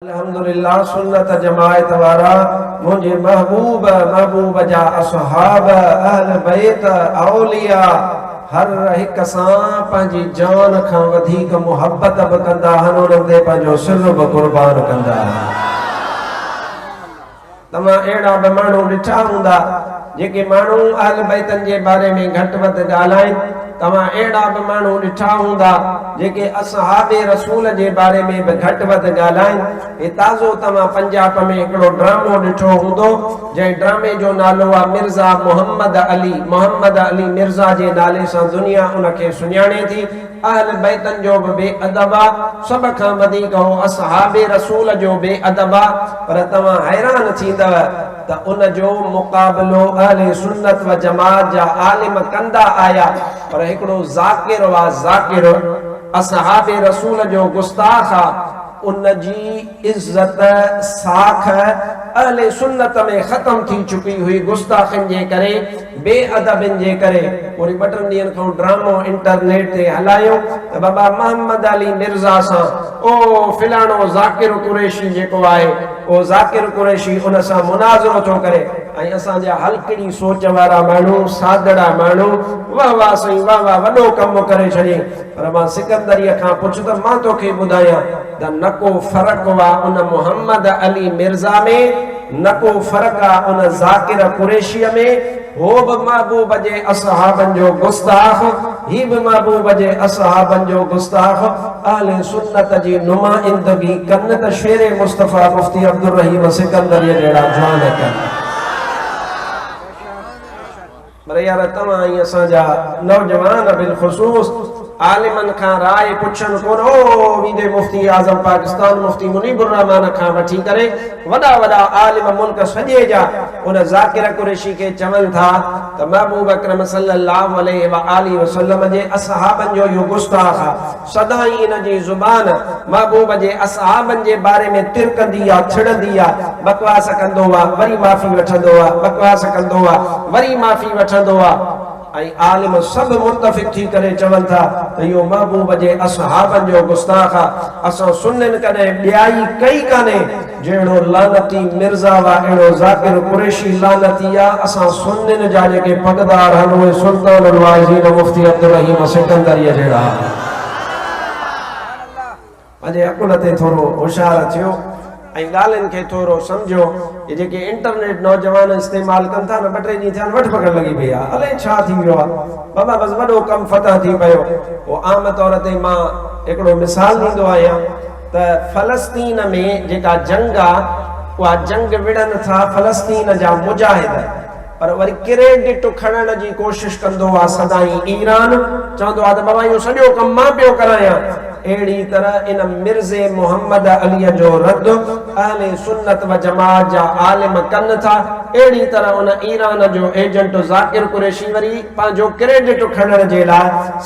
الحمدلله سنت جماعت وارا منهنجي محبوب محبوب جا اصحاب اهل بيت اولياء هر هڪ سان پنهنجي جان کان وڌيڪ محبت به ڪندا هن انهن تي پنهنجو سر به قربان ڪندا هن توهان اهڙا به ماڻهو ڏٺا هوندا جيڪي ماڻهو اهل بيتن جي باري ۾ گهٽ وڌ ڳالهائين، توهان اهڙا به ماڻهو ڏٺا هوندا جيڪي اصحاب رسول جي باري ۾ به گهٽ وڌ ڳالهائين، هي تازو توهان پنجاب ۾ هڪڙو ڊرامو ڏٺو هوندو جنهن ڊرامي جو نالو آ مرزا محمد علي، محمد علي مرزا جي نالي سان دنيا ان کي سڃاڻي ٿي، اهل بيتن جو به بي ادب آ، سڀ کان وڌيڪ هو اصحاب رسول جو بي ادب آ، پر توهان حيران ٿيندؤ ته ان جو مقابلو اهل سنت و جماعت جا عالم ڪندا آيا پر هڪڙو ذاڪر و ذاڪر اصحاب رسول جو گستاخ آ، ان جي عزت ساک اهل سنت ۾ ختم ٿي چڪي هئي گستاخين جي ڪري بي ادبين جي ڪري وري ٻه ٽن ڏينهن کان ڊرامو انٽرنيٽ تي هلايو ته بابا محمد علي مرزا سان او فلاڻو ذاڪر قريشي جيڪو آهي او ذاڪر قريشي ان سان مناظرو ٿو ڪري ۽ اسان جا هلڪڙي سوچ وارا ماڻهو سادڙا ماڻهو واه واه سائين واه واه وڏو ڪم ڪري ڇڏيئي پر مان سڪندريء کان پڇ ته مان توکي ٻڌايان ته نه ڪو فرق آ ان محمد علي مرزا ۾، نه ڪو فرق آ ان ذاڪر قريشيء ۾، هو به محبوب جي اصحابن جو گستاخ، هي به محبوب جي اصحابن جو گستاخ، اهل سنت جي نمائندگي ڪن ته شير مصطفيٰ مفتي عبدالرحيم سڪندريء جهڙا جوان ڪن. پر يار توهان ۽ اسان جا نوجوان بالخصوص عالمن کان راء پڇن ڪونه او ويندي مفتي اعظم پاڪستان مفتي منيب الرحمان کان وٺي ڪري وڏا وڏا عالم ملڪ سڄي جا ان ذاڪر قريشي کي چون ٿا ته محبوب اڪرم صلي الله عليه واٰله وسلم جي اصحابن جو اهو گستاخ آ سدائين ان جي زبان محبوب جي اصحابن جي باري ۾ ترڪندي آ، ڇڙندي آ، بڪواس ڪندو آ، وري معافي وٺندو آ، بڪواس ڪندو آ، وري معافي وٺندو آ ۽ عالم سڀ متفق ٿي ڪري چون ٿا ته اهو محبوب جي اصحابن جو گستاخ آ، اسان سنين ڪڏهن ٻيائي ڪئي ڪانهي. جهڙو لعنتي مرزا و اهڙو ذاڪر قريشي لعنتي يا اسان سنين جا جيڪي پڳدار هن اهي سلطان الواعظين مفتي عبدالرحيم سڪندريء جهڙا پنهنجي عقل تي ٿورو هوشيار ٿيو ۽ ڳالهين کي ٿورو سمجهيو هي جيڪي انٽرنيٽ نوجوان استعمال ڪن ٿا نه ٻه ٽي ڏينهن ٿيا آهن وٺ پڪڙ لڳي پئي آهي الئي ڇا ٿي ويو آهي بابا بس وڏو ڪم فتح ٿي پيو پوء عام طور تي مان هڪڙو مثال ڏيندو آهيان ته فلسطين ۾ جيڪا جنگ آ اها جنگ وڙهن ٿا فلسطين جا مجاهد پر وري ڪريڊٽ کڻڻ جي ڪوشش ڪندو آ سدائين ايران چوندو آ ته بابا اهو سڄو ڪم مان پيو ڪرايان اهڙي طرح ان مرزء محمد عليء جو رد اهل سنت و جماعت جا عالم ڪن ٿا اهڙي طرح ان ايران جو ايجنٽ ذاڪر قريشي وري پنهنجو ڪريڊٽ کڻڻ جي لاء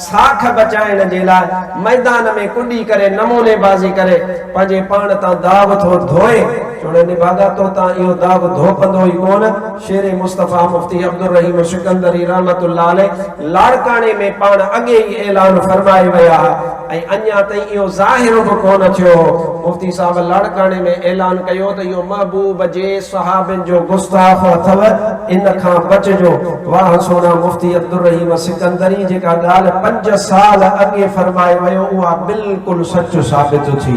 ساک بچائڻ جي لاء ميدان ۾ ڪڏي ڪري نموني بازي ڪري پنهنجي پاڻ تان داغ ٿو ڌوئي، چوڻي نڀاڳا تو تان اهو داغ ڌوپندو ئي ڪونه، شير مصطفيٰ مفتي عبدالرحيم سڪندري رحمة الله عليه لاڙڪاڻي ۾ پاڻ اڳي ئي اعلان فرمائي ويا ها ۽ اڃا تائين اهو ظاهر به ڪونه ٿيو هو، مفتي صاحب لاڙڪاڻي ۾ اعلان ڪيو ته اهو محبوب جي صحابين جو گستاخ اٿو. ان کان بچجو. واهه سونا مفتي عبدالرحيم سڪندري جيڪا ڳالهه پنج سال اڳي فرمائي ويو اها بلڪل سچ ثابت ٿي.